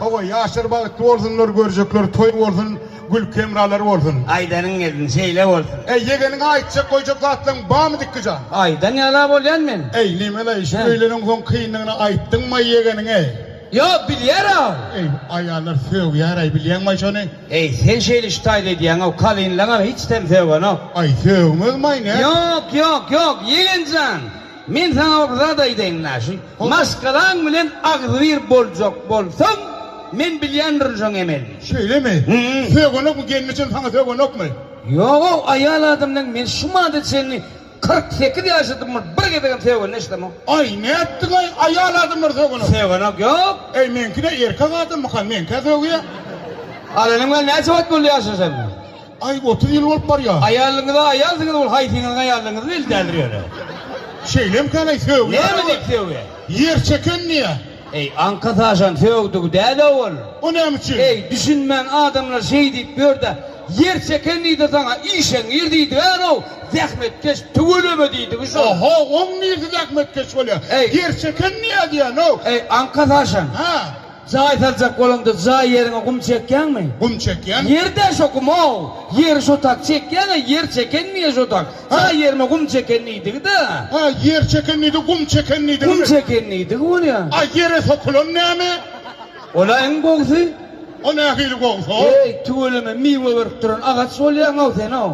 Hawa ýaşlar bagtly bolsunlar görjekler toý bolsun gülki hemralar bolsun. Aýdanyň gelsin şeýle bolsun. Eý ýegeniňe aýtjak goýjak zatlaň barmy Dikgijan. Aýdan ýala bolýan men. Eý Nemeleý şu öýleniň soň kynlygyny aýtdyňmaý ýegeniňe. Ýok bilýäraw. Eý aýallar sögýäraý bilýäňmaý şony. Eý sen şeýle şu taýda edýäňaw kalynlaňam hiçtem sögenok. Aý sögmezmaý nätsin. Ýok ýok ýok ýegenjan. Men saňa bir zat aýdaýyn Naşi. Maşgalaň bilen agzybir boljak bolsaň, men bilýändirin şoň emelini. Şeýlemi? Sögenokmy? Gelni üçin saňa sögenokmy? Ýog-ow, aýal adam bilen men şu mada çenli kyrk sekiz ýaşadymyr, bir gezegem sögende eşidemok. Aý, nätdiň-aý, aýal adamlar sögenok. Sögenok ýok. Äý, meňki-de erkek adamyka, meňkä sögýä. Alanyňa näçe wagt boldy ýaşaşanyna? Aý otuz ýyl bolup barýa. Aýalyňyza aýal diňiz ol haýsyňyzyň aýalyňyz belli däldir ýöne. Şeýlemkanaý sögýär Näme diýip sögýä? Ýer çeken diýä. Eý aňka saşan sögdügi däl-ow ol. O näme üçin? Eý düşünmän adamlar şeý diýip ýörde ýer çeken diýdi saňa işeňňir diýdigär-ow zähmetkeş tüweleme diýdigi şol. Oho oň niresi zähmetkeş bolýa. Eý. Ýer çeken diýä diýän-ow. Eý aňka saşan. Hä. Jaý saljak bolaňda jaý ýeriňe gum çekýäňmi? Gum çekýän. Ýerde şo gum-ow! Ýeri şo tak çekýäň-ä, ýer çekenmi-ýe şo tak? Jaý ýerime gum çeken diýdigi-dä. Hä, ýer çeken diýdigi, gum çeken diýdigimi? Gum çeken diýdigi bolýa. A ýere sokulan näme? Ol-a iň gowusy. O nähili gowusy-ow? Heý, tüweleme, miwe berip duran agaç bolýaň-ow sen-ow.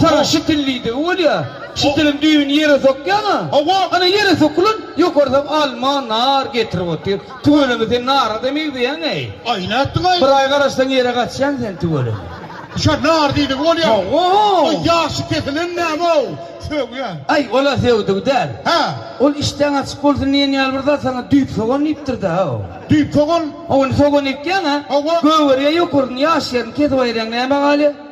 Saňa şitil diýdigi bolýar. Şitiliň düýbüni ýere sokýaň-a. Hawa. Ana, ýere sokulan, ýokarsam alma, nar getirip otyr. Tüweleme sen nara-da megzeýäň-eý. Aý, nätdiň-aý? Bir aý garaşsaň ýere gaçýaň sen tüweleme. Şa nar diýdigi bolýar. Hawa. Aý, ýagşy kesilen näme-ow? Sögýä. Aý, ol-a sögdügi däl. Hä. Ol işdäň açyk bolsun diýen ýaly bir zat saňa düýp sogan diýipdir-dä o. Düýp sogan? Hawa, indi sogan ekýäň-ä. Hawa. Gögerýä ýokaryny, ýaş ýerini kesip aýyrýaň, näme galýa?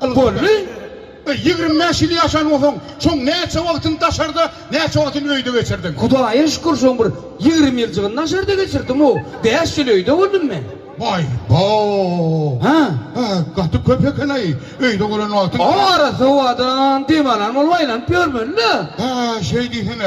Bolly, e, ýigrimi bäş ýyl ýaşan bolsaň, şoň näçe wagtyny daşarda, näçe wagtyny öýde geçirdiň? Hudaýa şükür, şoň bir ýigrimi ýyljygyny daşarda geçirdim-ow. Bäş ýyl öýde boldum men. Waý, bo! Hä? Hä, gaty köp eken-aý, öýde bolan wagtyň. Ow, arassa howadan dem alan bolup aýlanyp ýörmeli-dä. Hä, şeý diýsene.